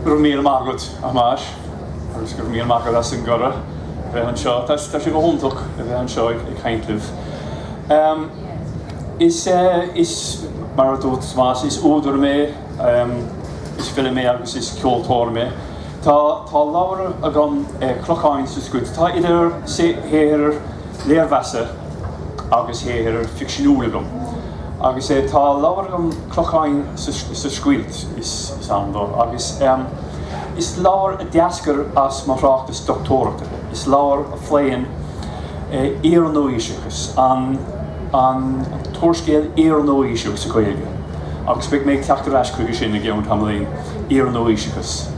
Go raibh míle maith agat a Thomáis agus go raibh míle maith agat as an gcuireadh a bheith anseo. Tá tá sé go hiontach a bheith anseo ag ag caint libh. Ehm, Is eh, is mar a dúirt Tomás, is údar mé, ehm, is file mé agus is ceoltóir mé. Tá, tá leabhar agam, Clocháin sa Scoilt. Tá idir shaothair léirmheasa agus shaothair ficseanúil agam. Agus eh, tá leabhar agam, Clocháin sa Scoilt, is ainm dó. Agus is leabhar a d'eascair as mo thráchtas dochtúireachta. Is leabhar a phléann iar-nua-aoiseachas an, an t-úrscéal iar-nua-aoiseach sa Ghaeilge. Agus beidh mé ag teacht ar ais chuige sin i gceann tamaillín. iar-nua-aoiseachas.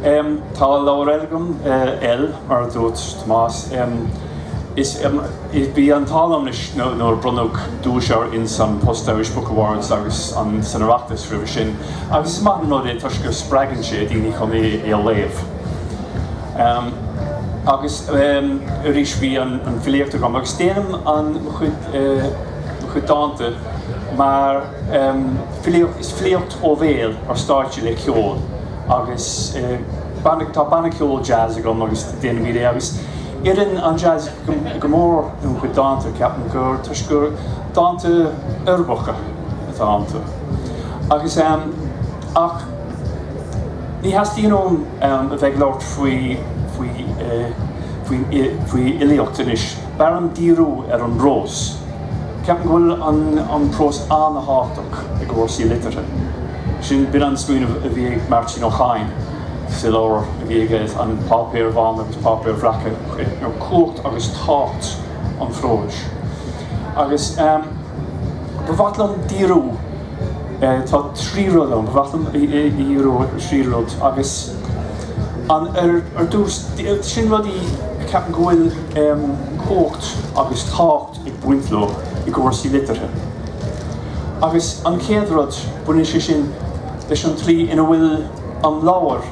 Tá leabhar eile agam, El, mar a dúirt Tomás, is bhí an t-ádh liom anois nuair a bronnadh duais air ins An Post Irish Book Awards agus san Oireachtas roimhe sin, agus is maith an rud é toisc go spreagann sé daoine chun é a léamh. Agus arís bhí an filíocht agam, agus déanaim mo chuid dánta mar. Filíocht is filíocht ó bhéal ar stáitse le ceol agus tá banna ceoil jazz agam agus déanaimid é agus oireann an jazz go mór dom chuid dánta. Ceapaim gur toisc gur dánta uirbeacha atá iontu. Agus, ach, ní theastaíonn uaim a bheith ag labhairt faoi, faoi, faoi fhilíocht anois. B'fhearr liom díriú ar an bprós. Ceapaim go bhfuil an prós an-tábhachtach i gcúrsaí liteartha. Sin b'in an smaoineamh a bhí ag Máirtín Ó Cadhain sa leabhar a bhí aige, An Páipéir Bhána agus Páipéir Bhreaca, cumhacht agus tábhacht an phróis. Agus ba mhaith liom díriú, tá trí rud ann, ba mhaith liom díriú ar thrí rud agus. An ar dtús, sin rudaí a ceapaim go bhfuil cumhacht agus tábhacht ag baint leo i gcúrsaí liteartha. Agus an chéad rud, baineann sé sin leis an tslí ina bhfuil an leabhar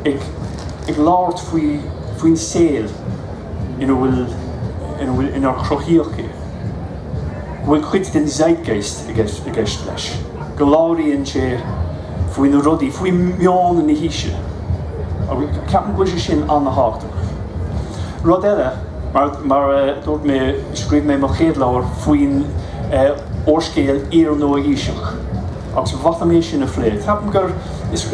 ag labhairt faoin saol ina bhfuil, inar cruthaíodh é. go bhfuil cuid den zeitgeist i gceist leis, go labhraíonn sé faoi na rudaí, faoi mheon na haoise, agus ceapaim go bhfuil sé sin an-tábhachtach. Rud eile, mar a dúirt mé, scríobh mé mo chéad leabhar faoin úrscéal iar-nua-aoiseach, agus ba mhaith liom é sin a phlé, ceapaim gur, is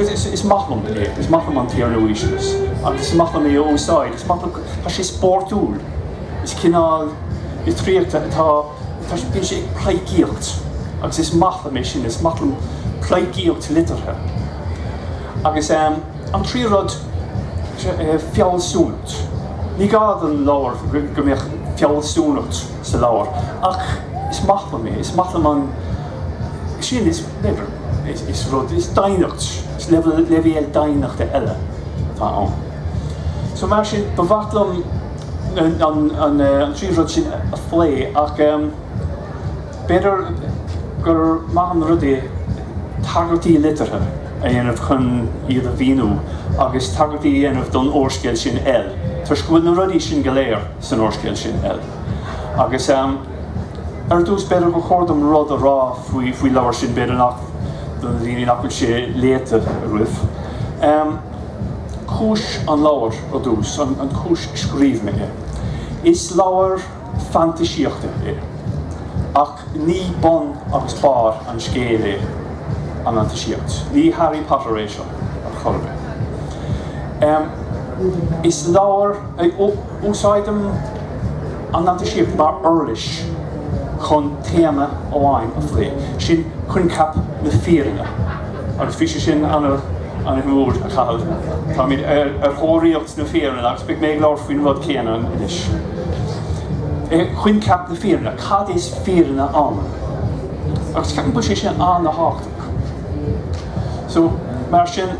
maith liom é, is maith liom an t-iar-nua-aoiseachas, agus is maith liom é a úsáid, is maith liom, tá sé spórtúil. Is cineál litríochta atá ann, bíonn sé ag pleidhcíocht agus is maith liom é sin, is maith liom pleidhcíocht liteartha. Agus an tríú rud, fealsúnacht. Ní gá don leabhar go mbeadh fealsúnacht sa leabhar ach is maith liom é, is maith liom an, sin, is, whatever, is rud, is doimhneacht, is leibhéal doimhneachta eile atá ann. So mar sin, ba mhaith liom. an trí rud sin a phlé, ach b'fhéidir gur maith an rud é tagairtí liteartha a dhéanamh chun iad a mhíniú, agus tagairtí a dhéanamh don úrscéal sin L, toisc go bhfuil na rudaí sin go léir san úrscéal sin L. Agus ar dtús, b'fhéidir gur chóir dom rud a rá faoi leabhar sin, b'fhéidir nach, do na daoine nach, sé léite a raibh. Cúis an leabhair ar dtús, an chúis scríobh mé é. Is leabhar fantaisíochta é, ach ní bun agus barr an scéil é an fhantaisíocht. Ní Harry Potter é seo ar chor ar bith. Is leabhar, úsáidim an fhantaisíocht mar uirlis chun téama amháin a phlé, sin coincheap na fírinne. Agus bhí sé sin an-mhór, a Chathail. Táimid ar thóraíocht na fírinne agus beidh mé ag labhairt faoin rud céanna anois. Coincheap na fírinne, cad is fírinne ann? Agus ceapaim go bhfuil sé sin an-tábhachtach. So, mar sin,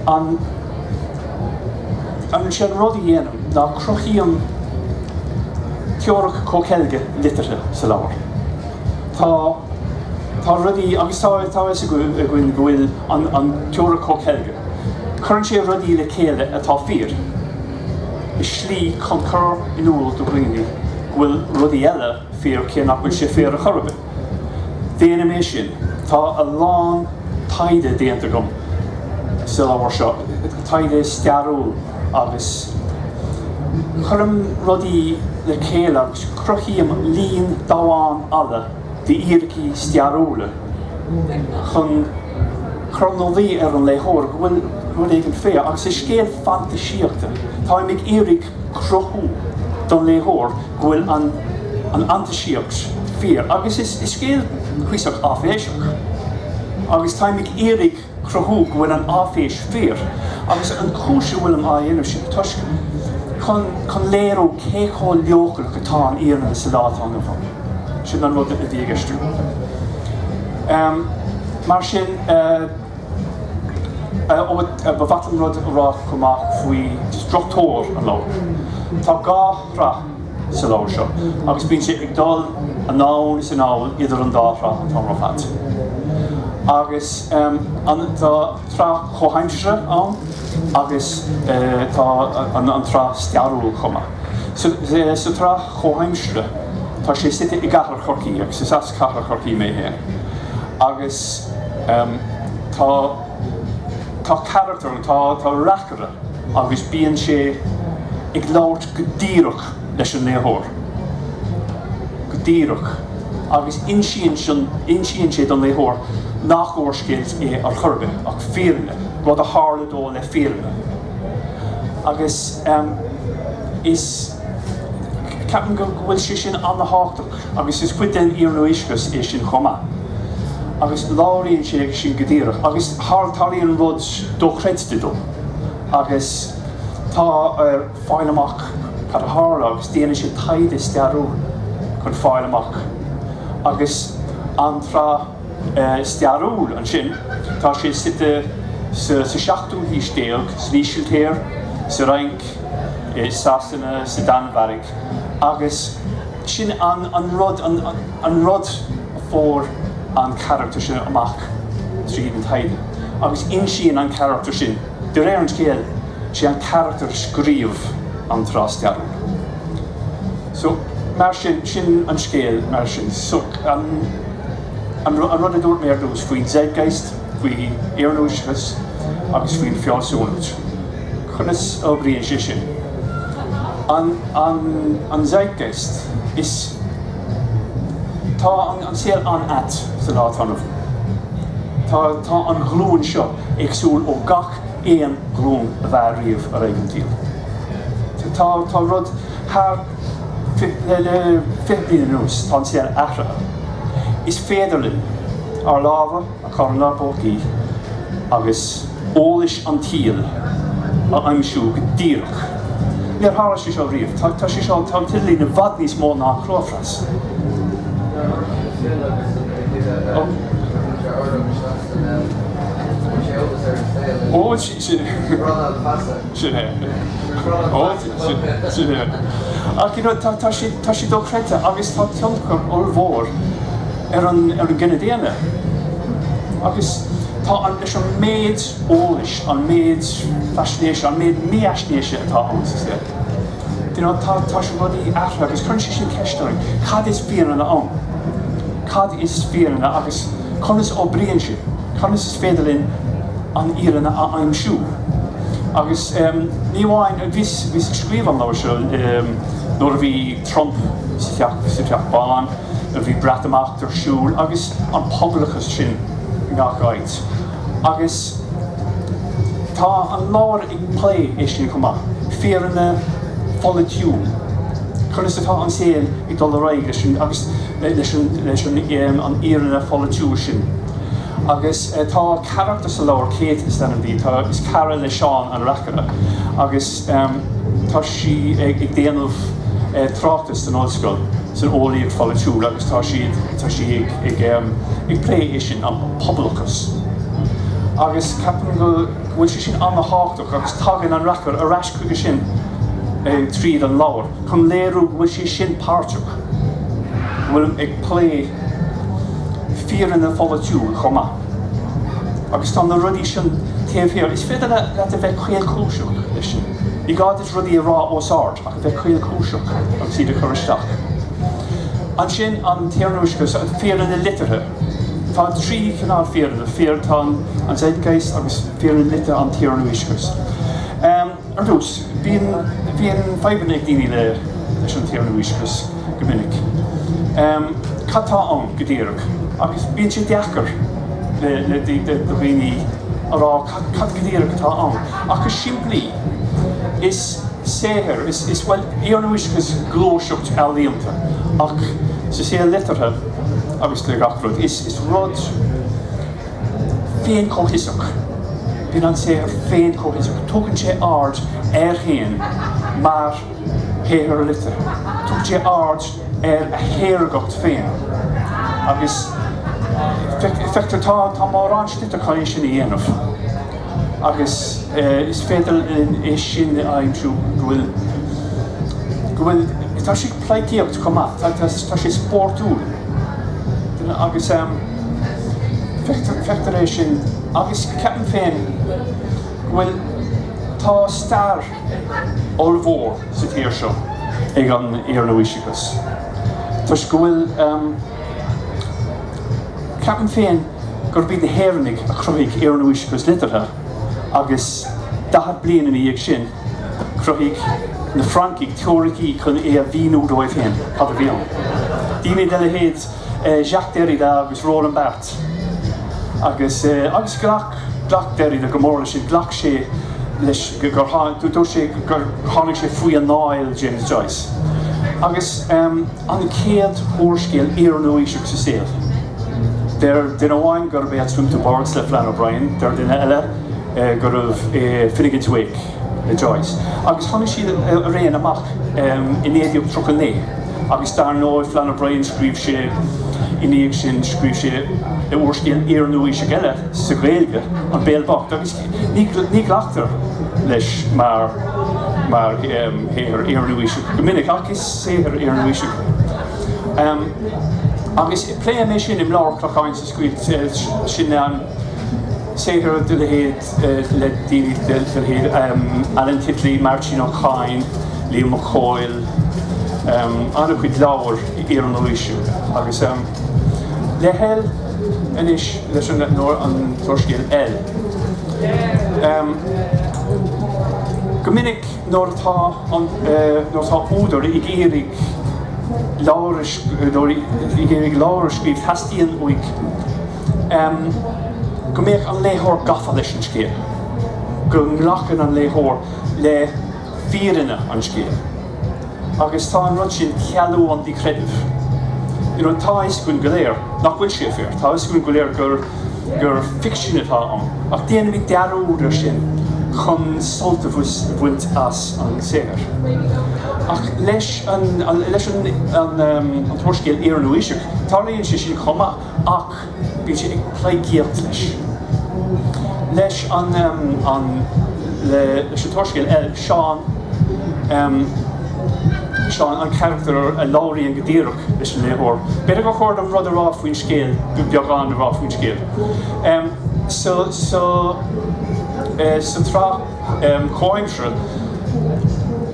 An, sé an rud a dhéanaim ná cruthaím teoiric comhcheilge liteartha sa leabhar. Tá tá rudaí agus tá tá fhios againn go bhfuil an an teoiric comhcheilge. Cuireann sé rudaí le chéile atá fíor i slí chun cur in iúl do dhaoine go bhfuil rudaí eile fíor cé nach bhfuil sé fíor ar chor ar bith. Déanaim é sin. Tá a lán taighde déanta agam sa leabhar seo, taighde stairiúil, agus cuirim rudaí le chéile agus cruthaím líon damhán alla d'fhíricí stairiúla chun cur ina luí ar an léitheoir go bhfuil rud éigin fíor, agus is scéal fantaisíochta. Táim ag iarraidh. cruthú don léitheoir go bhfuil an fhantaisíocht fíor, agus is scéal cuíosach áiféiseach, agus táim ag iarraidh cruthú go bhfuil an áiféis fíor, agus an chúis a bhfuilim á dhéanamh sin toisc, chun léiriú cé chomh leochaileach atá an fhírinne sa lá atá inniu ann. Sin an rud a bhí i gceist agam. Mar sin. Ba mhaith liom rud a rá chomh maith faoi struchtúr an leabhair. Tá dhá shraith sa leabhar seo agus bíonn sé ag dul anonn is anall idir an dá shraith an t-am ar fad. Agus tá an tsraith chomhaimseartha ann agus tá an tsraith stairiúil chomh maith. Sa tsraith chomhaimseartha, tá sé suite i gcathair Chorcaí agus is as. Cathair Chorcaí mé féin agus tá tá carachtar ann, tá tá reacaire agus bíonn sé ag labhairt go díreach leis an léitheoir, go díreach agus insíonn sé insíonn sé don léitheoir nach úrscéal é ar chor ar bith ach fírinne, rud a tharla dó le fírinne agus is ceapaim go go bhfuil sé sin an-tábhachtach. Agus is cuid den iarnua-aoiseachas é sin chomh maith. Agus labhraíonn sé air sin go díreach. Agus tarlaíonn rud dochreidte dó. Agus tá air fáil amach cad a tharla agus déanann sé taighde stairiúil chun fáil amach. Agus an tsraith stairiúil ansin, tá sé suite sa seachtú haois déag, san Ísiltír, sa Fhrainc, i Sasana, sa Danmhairg agus. Sin an rud, an rud a fuair an carachtar sin amach tríd an taighde agus insíonn an carachtar sin, de réir an scéal, sé an carachtar a scríobh an tsraith stairiúil. So, mar sin, sin an scéal mar sin. So, an rud a dúirt mé ar dtús faoin zeitgeist, faoin iarnua-aoiseachas agus faoin bhfealsúnacht. Conas a oibríonn sé sin? An zeitgeist. Is. Tá an saol an-ait sa lá atá inniu. Tá an ghlúin seo éagsúil ó gach aon ghlúin a bhí riamh ar éigean dtaobh. Tá rud thar le fiche bliain anuas. Tá an saol athraithe. Is féidir linn ár lámha, chur inár bpócaí agus eolas an tsaoil a aimsiú go díreach. Níor tharla sé seo riamh. Tá sé seo, tá an t-idirlíon i bhfad níos mó ná an clóphreas. Ach tá sé dochreidte agus tá tionchar ollmhór. ar an gcine daonna. Agus tá an, leis an méid eolais, an méid faisnéise, an méid mífhaisnéise atá ann sa saol, do you know, tá sé rudaí athraithe agus cuireann sé sin ceist orainn, cad is fírinne ann? Cad is fírinne agus conas oibríonn sé? Conas is féidir linn an fhírinne a aimsiú? Agus ní amháin, bhíos, bhíos ag scríobh an leabhair seo nuair a bhí Trump sa Teach Bán, Bhí Breatimeacht ar siúl agus an pobalachas sin i ngach áit. Agus tá an leabhar ag plé é sin chomh maith, fírinne pholaitiúil, conas atá an saol ag dul ar aghaidh leis an fhírinne pholaitiúil sin. Agus tá carachtar sa leabhar, Kate is ainm di, tá, is cara le Seán an reacaire, agus. Tá sí ag déanamh tráchtais san ollscoil san eolaíocht pholaitiúil agus tá sí tá sí ag ag plé é sin an pobalachas agus ceapaim go bhfuil sé sin an-tábhachtach agus tagann an reacaire ar ais chuige sin tríd an leabhar chun léiriú go bhfuil sé sin páirteach bhfuilim ag plé fírinne pholaitiúil chomh maith. Agus tá na rudaí sin taobh thiar. Is féidir leat a bheith caolchúiseach leis sin. Ní gá duit rudaí a rá os ard, ach a bheith caolchúiseach agus iad a chur isteach. Ansin, an t-iarnua-aoiseachas, fírinne liteartha. Tá trí chineál fírinne, fíor, tá an zeitgeist, agus fírinne liteartha, an t-iarnua-aoiseachas. Ar dtús, bíonn fadhbanna ag daoine leis an t-iarnua-aoiseachas go minic, cad tá ann go díreach? agus bíonn sé deacair le daoine a rá cad go díreach atá ann. Ach go simplí, is saothar, is, bhuel, iarnua-aoiseachas, gluaiseacht ealaíonta, ach sa saol liteartha agus le gach rud, is rud. féin-chomhfhiosach. Bíonn an saothar féin-chomhfhiosach, tugann sé aird air féin mar shaothar liteartha, tugann sé aird ar a shaoragacht féin agus feictear, tá mórán slite chun é sin a dhéanamh agus is féidir linn é sin a aimsiú, go bhfuil, go bhfuil, tá sé ag pleidhcíocht chomh maith, tá sé spórtúil agus. Feictar é sin agus ceapaim féin go bhfuil, tá stair ollmhór sa tír seo ag an iar-nua-aoiseachas toisc go bhfuil, ceapaim féin gurb iad na hÉireannaigh a chruthaigh iar-nua-aoiseachas liteartha agus daichead bliain ina dhiaidh sin chruthaigh na Francaigh teoiricí chun é a mhíniú dóibh féin, cad a bhí ann. Daoine de leithéid. Jacques Derrida agus Roland Barthes. Agus, agus ghlac, ghlac Derrida go mór leis sin, ghlac sé leis gur tháinig, dúirt sé gur tháinig sé faoi anáil James Joyce. Agus an chéad úrscéal iar-nua-aoiseach sa saol, deir duine amháin gurb é At Swim-Two-Birds le Flann O'Brien, deir duine eile gurbh é Finnegans Wake. le Joyce, agus tháinig siad araon amach i 1939, agus dar ndóigh, Flann O'Brien, scríobh sé i ndiaidh sin, scríobh sé úrscéal iar-nua-aoiseach eile sa Ghaeilge, An Béal Bocht, agus ní ghlactar leis mar shaothar iar-nua-aoiseach go minic, ach is saothar iar-nua-aoiseach é. Agus pléifidh mé sin im leabhar Clocháin sa Scoilt sin. Saothar de leithéid le daoine de leithéid, Alan Titley, Máirtín Ó Cadhain, Liam Mac Cóil, an-chuid leabhar iar-nua-aoiseach agus le hEL anois leis an t-úrscéal EL. Go minic nuair atá údar ag iarraidh leabhar a scríobh teastaíonn uaidh go mbeadh an léitheoir gafa leis an scéal, go nglacann an léitheoir le fírinne an scéil agus tá an rud sin cealú an díchreidimh. You know, tá a fhios againn go léir nach bhfuil sé fíor, tá a fhios againn go léir gur, gur ficsean atá ann ach déanaimid dearúd ar sin chun sult a bhaint as an saothar. Ach leis an, leis an, an, an t-úrscéal iar-nua-aoiseach, tarlaíonn sé sin chomh maith. Ach bíonn sé ag pleidhcíocht leis, leis an t-úrscéal EL, Seán an carachtar a labhraíonn go díreach leis an léitheoir. B'fhéidir gur chóir dom rud a rá faoin scéal, beagán a rá faoin scéal. So sa tsraith. comhaimsire.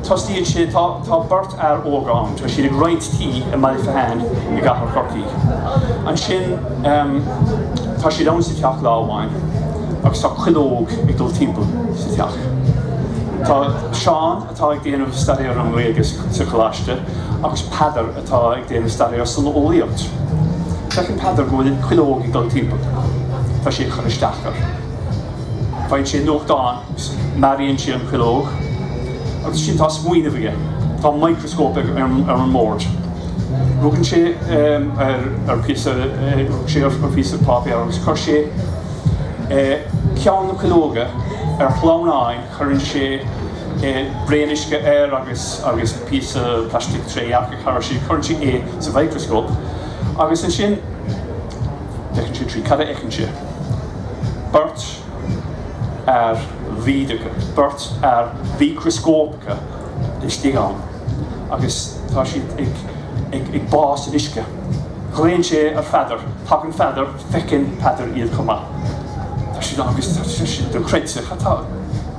Tosaíonn sé, tá beirt fhear óg ann, tá siad ag roinnt tí i mBaile Féitheán i gcathair Chorcaí. Ansin, tá siad ann sa teach lá amháin agus tá cuileog ag dul timpeall sa teach. Tá Seán, atá ag déanamh staidéar ar an nGaeilge sa choláiste, agus Peadar, atá ag déanamh staidéar san eolaíocht. Feiceann Peadar go bhfuil cuileog ag dul timpeall. Tá sé ag cur isteach air. Faigheann sé nuachtán agus maraíonn sé an chuileog. Agus ansin tá smaoineamh aige. Tá micreascóp ar an mbord. Rugann sé ar phíosa páipéar agus chuir sé ceann na cuileoga ar shleamhnán, cuireann sé braon uisce air agus agus píosa plaistic trédhearcach thairis sin, cuireann sé é sa mhicreascóp agus ansin feiceann sé tríd. Cad a fheiceann sé? Beirt fhear bhídeacha, beirt fhear mhicreascópacha laistigh ann agus tá siad ag bá san uisce. Glaonn sé ar Pheadar. Tagann Peadar, feiceann Peadar iad chomh maith. Tá siad ann agus tá sé sin dochreidte, cad tá?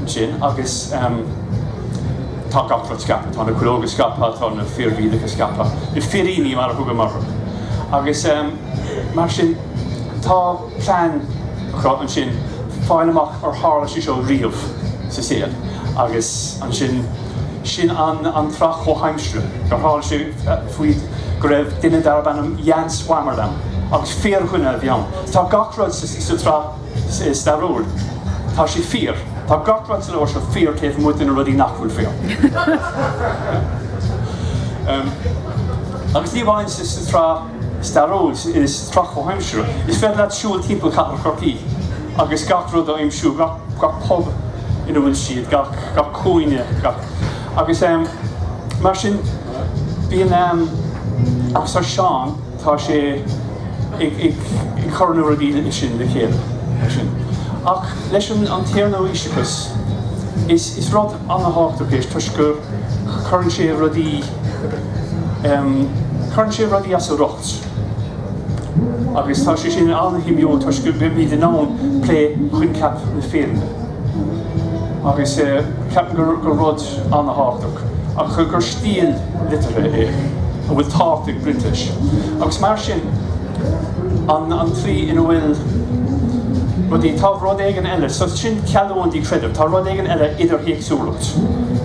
ansin agus tá gach rud scaipthe, tá na cuileoga scaipthe, tá na fir bhídeacha scaipthe, na firíní mar a thugaim orthu. Agus mar sin tá plean acu ansin fáil amach ar tharla sé seo riamh sa saol agus ansin sin an tsraith chomhaimseartha gur tharla sé faoi go raibh duine darb ainm Jan Swammerdam agus fíordhuine a bhí ann. Tá gach rud sa tsraith. stairiúil. Tá sé fíor. Tá gach rud sa leabhar seo fíor taobh amuigh de na rudaí nach bhfuil fíor. Agus ní amháin sa tsraith stairiúil, sa tsraith chomhaimseartha, is féidir leat siúl timpeall chathair Chorcaí agus gach rud a aimsiú, gach pub ina bhfuil siad, gach cúinne, gach. Agus mar sin, bíonn, arsa Seán. Tá sé ag cur na rudaí sin le chéile. Ach leis an t-iarnua-aoiseachas, is rud an-thábhachtach é toisc go gcuireann sé rudaí, cuireann sé rudaí as a riocht. Agus tá sé sin an-shuimiúil toisc go mbeimid in ann plé choincheap na fírinne. Agus ceapaim gur rud. Ana-thábhachtach, ach gur stíl liteartha é a bhfuil tábhacht ag baint leis, agus mar sin, an tslí ina bhfuil rudaí. Tá rud éigin eile, so sin cealú an díchreidimh, tá rud éigin eile, idirthéacsúlacht,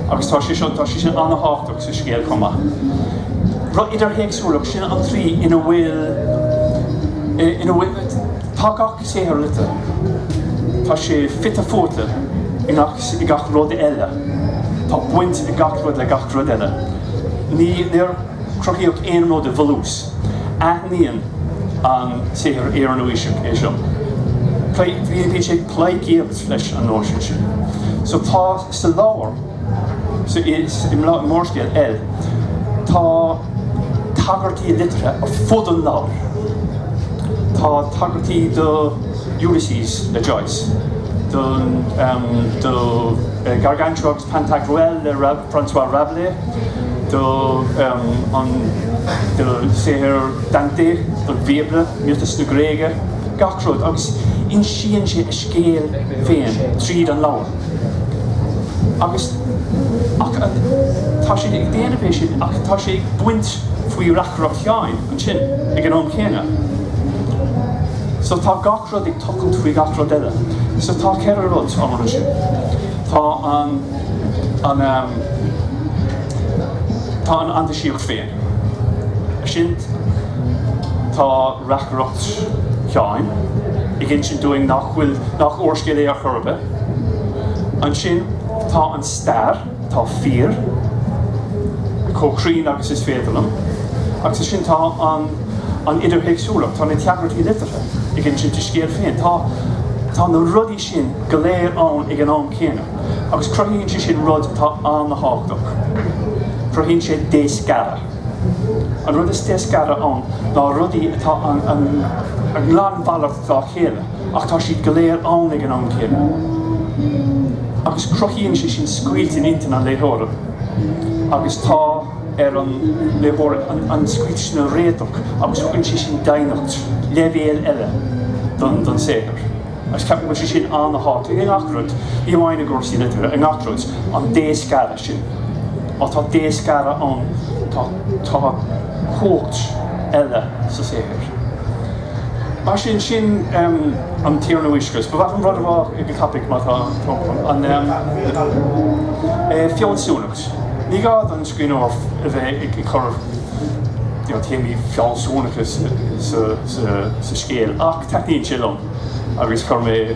agus tá sé seo, tá sé sin ana-thábhachtach sa scéal chomh maith. Rud idirthéacsúlacht, sin an tslí ina bhfuil, ina bhfuil, tá gach. saothar liteartha. Tá sé fite fuaite i gach rud eile. Tá baint ag gach rud le gach rud eile. Níor cruthaíodh aon rud i bhfolús. Aithníonn an saothar iarnua-aoiseach é seo. Bíonn sé ag pleidhcíocht leis an nóisean sin. So tá sa leabhar, i m'úrscéal El, tá. tagairtí liteartha ar fud an leabhair. Tá tagairtí do Ulysses le Joyce, do Gargantua agus Pantagruel le Francois Rabelais, do shaothair Dante, don Bhíobla, miotais na Gréige, gach rud, agus insíonn sé a scéal féin tríd an leabhar. Agus. Ach tá sé ag déanamh é sin, ach tá sé ag baint faoi reacaireacht Sheáin ansin ag an am céanna. So tá gach rud ag tochailt faoi gach rud eile. So tá ceithre rud ann ansin. Tá an, an, tá an fhantaisíocht féin. Ansin tá. reacaireacht Sheáin ag insint dúinn nach bhfuil, nach úrscéal é ar chor ar bith. Ansin tá an stair, atá fíor, chomh cruinn agus is féidir liom, agus ansin tá an, an idirthéacsúlacht, tá na tagairtí liteartha ag insint a scéal féin. Tá, tá na rudaí sin go léir ann ag an am céanna, agus cruthaíonn sé sin rud atá an-tábhachtach, cruthaíonn sé déscaradh. An rud is déscaradh ann ná rudaí atá ina nglanmhalairt dá chéile ach tá siad go léir ann ag an am céanna. Agus cruthaíonn sé sin scoilt in intinn an léitheora agus tá ar an léitheoir an scoilt sin a réiteach agus tugann sé sin doimhneacht, leibhéal eile don saothar. Agus ceapaim go bhfuil sé sin an-thábhachtach i ngach rud, ní amháin i gcúrsaí liteartha, i ngach rud, an déscaradh sin. Má tá déscaradh ann, tá cumhacht eile sa saothar. Mar sin, sin an t-iarnua-aoiseachas. Is ba mhaith liom rud a rá ag an topaic, má tá an fealsúnacht. Ní gá don scríbhneoir a bheith ag cur téamaí fealsúnacha sa scéal, ach taitníonn sé liom agus chuir mé.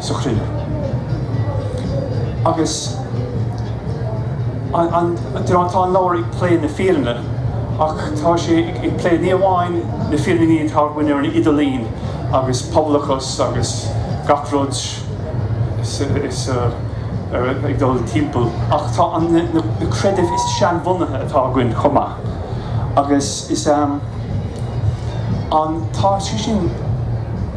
sa chruinne. Agus an, you know, tá an leabhar ag plé na fírinne ach tá sé ag plé ní amháin na fírinní atá againn ar an idirlíon agus pobalachas agus gach rud ag dul timpeall ach tá an na creidimh is seanbhunaithe atá againn chomh maith. Agus is an tá sé sin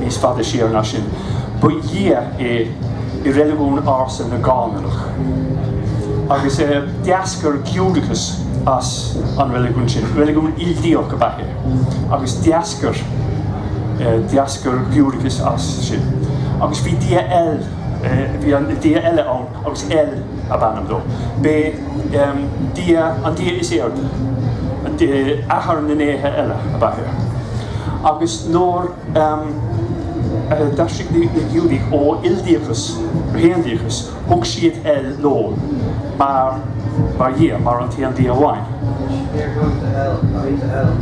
Níos faide siar ná sin, ba dhia é i reiligiún ársa na gCánaanach, agus d'eascair Giúdachas as an reiligiún sin. Reiligiún ildiach ab ea é, agus d'eascair d'eascair Giúdachas as sin. Agus bhí dia, bhí dia eile ann, agus El ab ainm dó. B'é an dia is airde, athair na ndéithe eile, ab ea é. Agus. Nuair a d'aistrigh na Giúdaigh ó ildiachas go haondiachas? Thug siad El leo mar Dhia, mar an t-aon Dia amháin. They're going to hell, going to hell.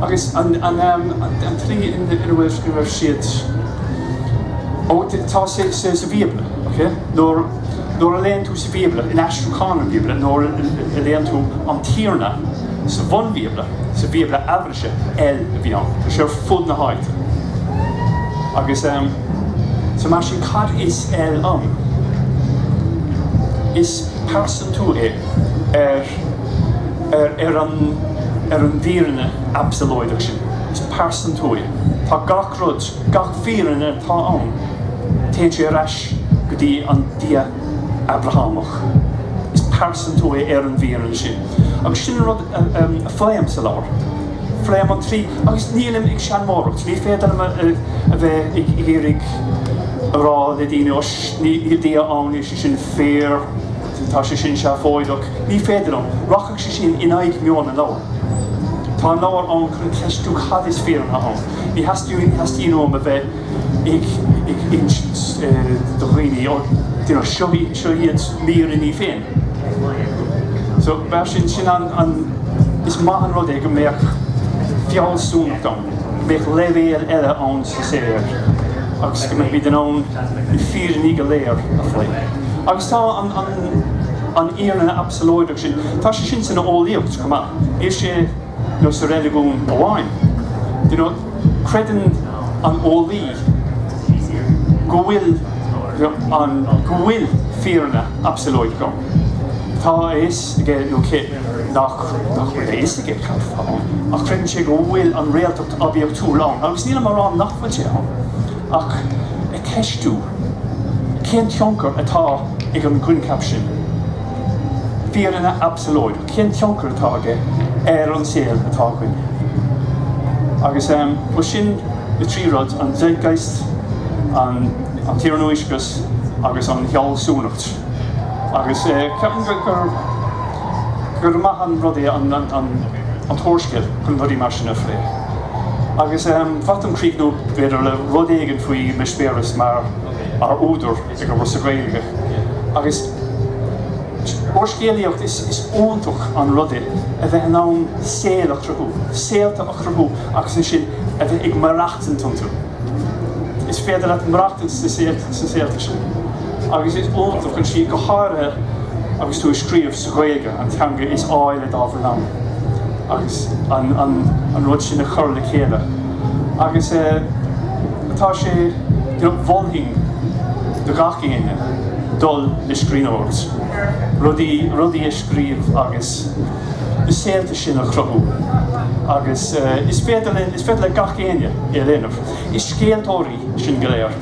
Agus an tslí ina bhfuil siad, tá sé sa Bhíobla. Nuair a léann tú sa Bhíobla, in aistriúchán an Bhíobla, nuair a léann tú an Tiarna sa bhunBhíobla, sa Bhíobla Eabhraise, El a bhí ann. Tá sé ar fud na háite. Agus, so mar sin, cad is El ann? Is pearsantú é ar an bhfírinne absalóideach sin. Is pearsantú é. Tá gach. rud, gach fírinne atá ann, téann sé ar ais go dtí an Dia Abrahámach. Is pearsantú é ar an bhfírinne sin. Agus sin an rud a phléim sa leabhar. Pléim an trí, agus nílim ag seanmóireacht, ní féidir liom a bheith ag iarraidh a rá le daoine, Ó, níl Dia ann, níl sé sin fíor, tá sé sin seafóideach. Ní féidir liom. Rachadh sé sin in aghaidh meon an leabhair. Tá an leabhar ann chun ceistiú cad is fírinne ann. Ní theastaíonn uaim a bheith ag insint do dhaoine, ó, you know, seo iad m'fhírinní féin. So, mar sin, sin an, is maith an rud é go mbeadh fealsúnacht ann, go mbeadh leibhéal eile ann sa saothar agus go mbeadh muid in ann na fírinní go léir a phlé. Agus tá an, an, an fhírinne absalóideach sin, tá sé sin san eolaíocht chomh maith. Níl sé. sa reiligiún amháin. You know, creideann an eolaí go bhfuil, you know, go bhfuil fírinne absalóideach ann. Tá a fhios aige, nó aici, nach bhfuil a fhios aige cad atá ann, ach creideann sé go bhfuil an réaltacht oibiachtúil ann, agus nílim á rá nach bhfuil sé ann, ach ag ceistiú cén tionchar atá ag an gcoincheap sin, fírinne absalóideach. cén tionchar atá aige ar an saol atá againn. Agus, bhuel, sin na trí rud, an zeitgeist, an t-iarnóiscreas agus an fhealsúnacht. Agus ceapaim gur, gur maith an rud é an, an, an t-úrscéal chun rudaí mar sin a phlé. Agus, ba mhaith liom críochnú, b'fhéidir, le rud éigin faoi m'eispéireas mar, mar údar. Ag scríobh sa Ghaeilge. Agus úrscéalaíocht, is iontach an rud é a bheith in ann saol a chruthú, saolta a chruthú agus ansin a bheith ag maireachtaint iontu. Is féidir leat maireachtaint sna saolta, sna saolta sin. Agus is iontach ansin, go háirithe agus tú ag scríobh sa Ghaeilge, an teanga is áille dá bhfuil ann, agus an, an, an rud sin a chur le chéile. Agus eh. Tá sé, mholfainn do gach éinne dul le scríbhneoireacht, rudaí, rudaí a scríobh agus na saolta sin a chruthú agus is féidir linn, is féidir le gach éinne é a dhéanamh. Is scéaltóirí sinn go léir,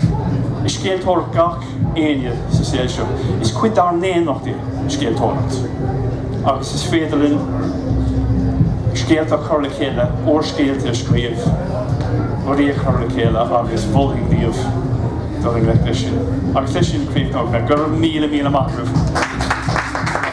is scéaltóir gach. éinne sa saol seo. Is cuid dár ndaonnacht é an scéaltóireacht agus is féidir linn scéalta a chur le chéile, úrscéalta a scríobh, rudaí a chur le chéile agus mholfainn daoibh dul i ngleic leis sin. Agus leis sin, críochnód. Go raibh míle míle maith agaibh.